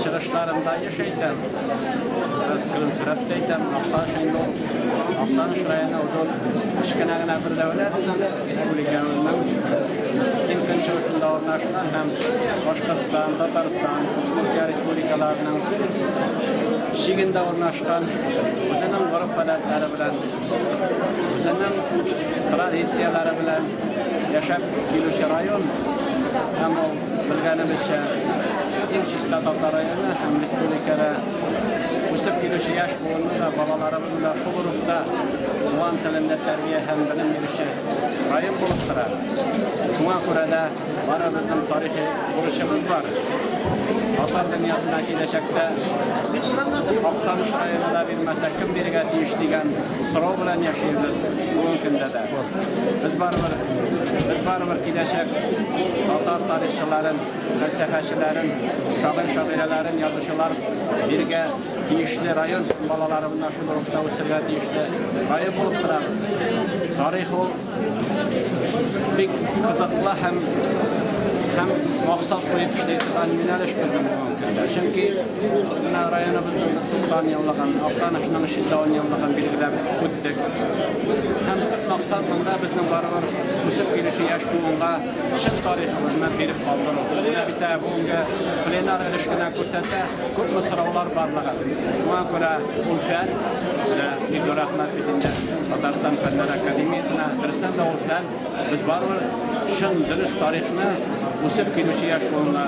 Чыгышларымда еш әйтәм, бераз көлемсерәп тә әйтәм, Актаныш инде ул, Актаныш районы ул зур кечкенә генә бер дәүләт инде, республикабызның иң көнчыгышында урнашкан һәм Башкортстан, Татарстан, Удмуртия республикаларының чигендә урнашкан, үзенең гореф-гадәтләре белән, үзенең традицияләре белән яшәп килүче район һәм ул Белгәнебезчә, иң чиста татар районы һәм республикада үсеп килүче яшь буынны да балаларыбыз белән шул рухта туган телендә тәрбия һәм белем бирүче район булып тора. Шуңа күрә дә барыбызның тарихи бурычыбыз бар. Татар дөньясына киләчәктә Актаныш районы да бирмәсә, кем бирергә тиеш дигән сорау белән яшибез бүгенге көндә дә. Без барыбер, без барыбер киләчәк татар тарихчыларын, фәлсәфәчеләрен, шагыйрь шагыйрәләрен, язучылар биргә тиешле район балалары менә шул рухта үсергә тиешле район булып торабыз. Тарих ул бик кызыклы һәм һәм максат куеп эшли торган юнәлеш булган бүгенге көндә. Чөнки Менә районыбызның 90 еллыгын, Актанышның 310 еллыгын билгеләп үттек. Һәм төп максат монда безнең барыбер үсеп килүче яшь буынга чын тарихыбызны биреп калдыру. Менә бит ә бүгенге пленар өлеш кенә күрсәтә, күпме сораулар барлыгын. Шуңа күрә ул фән, менә бик зур рәхмәт бит инде Татарстан Фәннәр академиясенә, дөрестән дә ул фән, Без барыбер чын, дөрес тарихны үсеп килүче яшь буынга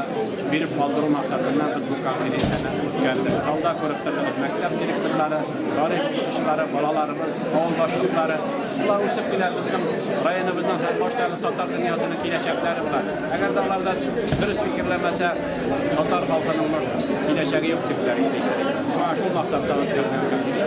биреп калдыру максатыннан без бу конференцияне үткәрдек. Залда күреп тордыгыз, мәктәп директорлары, тарих укытучылары, балаларыбыз, авыл башлыклары. Шулар үсеп килә, безнең районыбызның һәм баштагы татар дөньясының киләчәкләре була. Әгәр дә аларда дөрес фикерләмәсә, татар халкының киләчәге юк дип тә әйтик. Шуңа шул максатта үткәрдек.